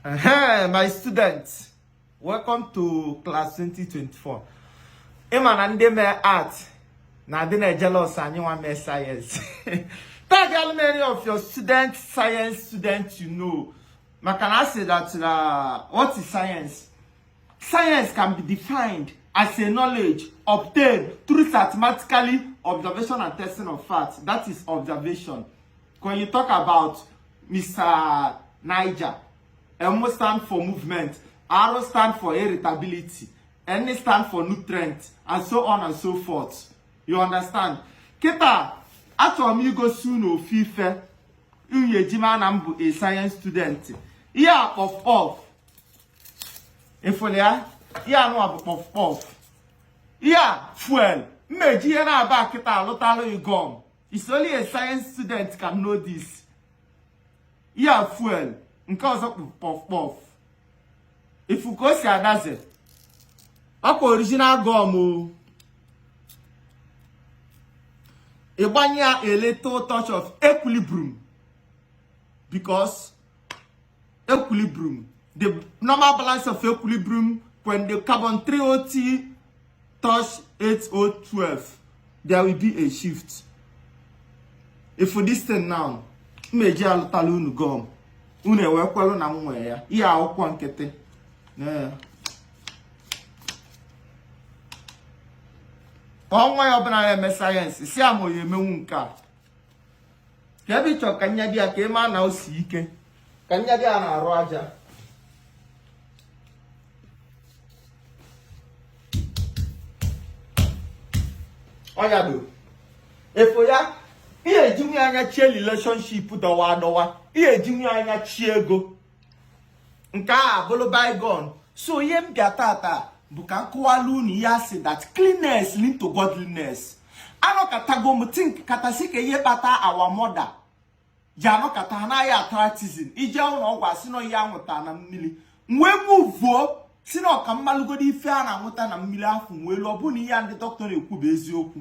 Hey, my students, welcome to class 2024. Ịma na ndị mee art na adị na jealous anyị nwa mee science. Tag how many of your student science students you know. Maka na asị that uh, what is science? Science can be defined as a knowledge obtained through systematically observation and testing of facts. That is observation. when you talk about Mr. Niger M stand for movement R stand for irritability N stand for nutrient and so on and so forth you understand kịta achọrọ m igosi unu ofu ife unu ya-eji ma na m bụ a science student ihe a kpọf kpọf ịfụlụ ya ihe a nụwa bụ kpọf kpọf ihe a fuel m na-eji ihe naabọ a kịta alụtalụ ị gum It's only a science student can know this. Ihe a fuel nke ọzọ kpọf kpọf ịfụ ka o si adaze ọkwa original gum o ịgbanye ya a little touch of equilibrium because equilibrium the normal balance of equilibrium when the carbon 3OT touch 8012 there will be a shift ịfụ this thing now m eji alụtalụ unu gum unu ewekwelu na m nwee ya ihe akwụkwọ nkịtị onye ọbụla na-eme science si ama onye emenwu nke a ka ebe ịchọ ka nyado ya ka ịma na o si ike ka nyado ya n'arụ aja ọ nyado ịfụ ya ihe ejinwu anyachie relationship dọwa adọwa ihe ejinwu anyachie ego nke a bụrụ bygone so ihe m bịa tata bụ ka m kọwalụ unu ihe asị that cleanliness lead to godliness anọkatago m think kata sị kee ihe kpata our mother ji anọkata ha ana-aya arthritis ije ụnọ ọgwụ asị na ọya anwụta na mmiri m wee move sị na ọ ka m malụgodu ife a na-anwụta na mmiri afọ nwee lu ọ bụrụ na ihe a ndị doctor na-ekwu bụ eziokwu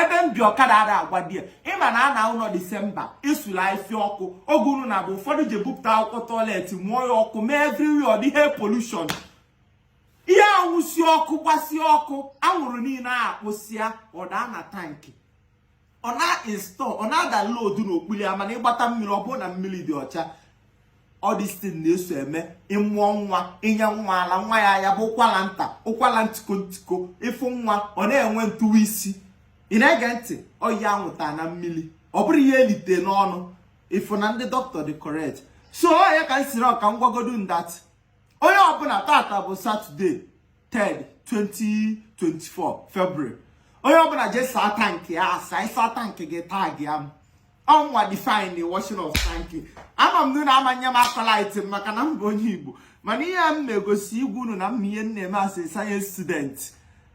ebe m bi ọkada ada agwa di ya ịma na ana ụnọ December esula ife ọkụ oge unu na-abụ ụfọdụ ji ebupụta akwụkwọ toilet mụọ ya ọkụ mee everywhere ọ dị air pollution ihe anwụsi ọkụ gbasi ọkụ anwụrụ niile a akpụsịa ọ daa na tank ọ na-install ọ na-download n'okpuru ya mana ịgbata mmiri ọ bụrụ na mmiri dị ọcha all this thing na-eso eme ịmụọ nwa inye nwa ala nwa ya ya bụ ụkwala nta ụkwala ntiko ntiko ịfụ nwa ọ na-enwe ntụwa isi ị na-ege ntị ọya anwụta na mmiri ọ bụrụ ihe elite n'ọnụ ịfụ na ndị doctor dị correct so ya ka m sịrị ọ ka m gwagodu unu that onye ọbụla tata bụ Saturday 3 2024 February onye ọbụla jee saa tankị ya asa ị saa tankị gị tagịa mụnwa define washing of tankị ama m na unu amanye m accolade m maka na m bụ onye Igbo mana ihe m na-egosikwu unu na m ma ihe m na-eme as science student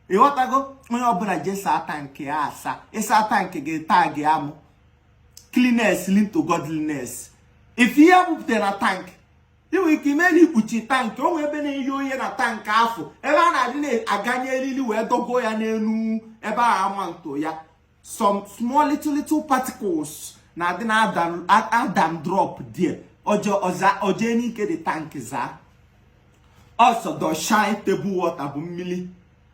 ị ghọtago onye ọbụla jee saa tankị ya asa ị saa tankị gị tagịa mụ cleanliness lead to godliness ị fụ ihe bupụtara na tankị ị nwere ike ime na-ekpuchi tankị o nwee ebe na-eye oye na tankị afụ ebe a na-adị na-aganye elili wee dogo ya n'elu ebe a ama nto ya some small little little particles na-adị na adam drop there o jee n'ike the tankị zaa ọ sọ dọshine table water bụ mmili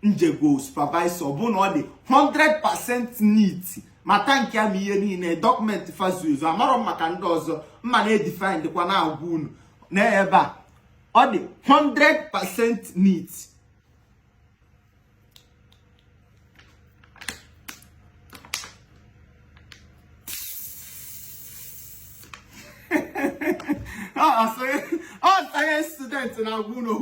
m jego supervisuo bụ na ọ dị 100% neat ma tankị a ma ihe niile document fa zuzu amarọ m maka ndị ọzọ mụwa na-edifine dịkwa na-agwa unu na ebe a ọ dị 100% neat ọ science student na-agwa unu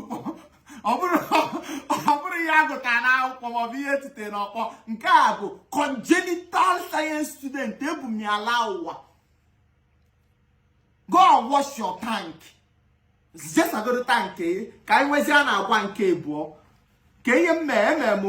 ọ bụrọ ihe a gụtara n'akwụkwọ maọbụ ihe e tite n'ọkpọ nke a bụ congenital science student ebu m ya laa ụwa go and wash your tank jee sagodu tank ka anyị nwezie a na-agwa nke abụọ ka ihe m mee emere m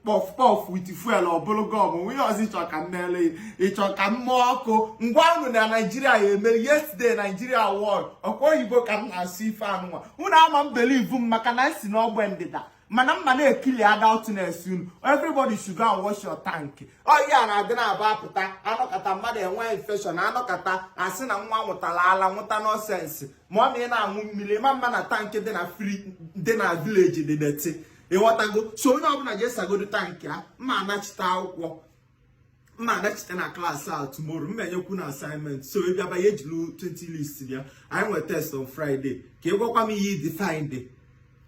puff puff with fuel ọ bụrụgo m gịnị ọzọ ị chọ ka m meele ị chọ ka m mee ọkwa m gwa unu na Nigeria ya-emeri yesterday Nigeria won ọkwa oyibo ka m na-asụ ife anụnwa unu ama believe m maka na m si n'ogbe ndịda mana mụwa na-ekili adultness unu everybody should go and wash your tank ọya na-adị na-aba apụta a nọkata mmadụ enwee infection a nọkata a sị na nwa ṅụtara ala ṅụta nonsense ma ọ na ị na-aṅụ mmiri ma m ma na tankị dị na village dị deti ị ghọtago so onye ọbụla jee sagodu tankị ya ma anachite akwụkwọ m na-anachite na klaasị a tomorrow m na-enyekwu unu assignment so ị bịaba ya ejiri 20 leaves bịa anyị nwere test on Friday ka ị gwakwa m ihe ị define dị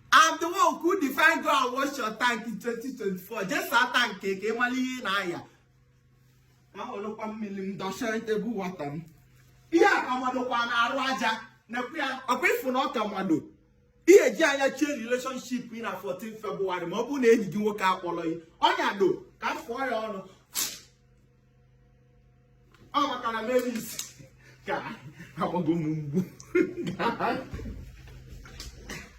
I'm the one who define go and wash your tank in 2024 just saa tank ka ị mara ihe ị na-aya ahụlụkwa mmiri m dọchara table water m ihe a ka madokwa n'arụ aja na-ekwu ya ọkwa ị fụ na ọ ka mado ihe e ji anyachi relationship ị na 14 February ma ọ bụrụ na enyi gị nwoke akpọrọ gị ọ nyado ka m fụọ ya ọnụ ọ maka na meris ka agbago m mgbu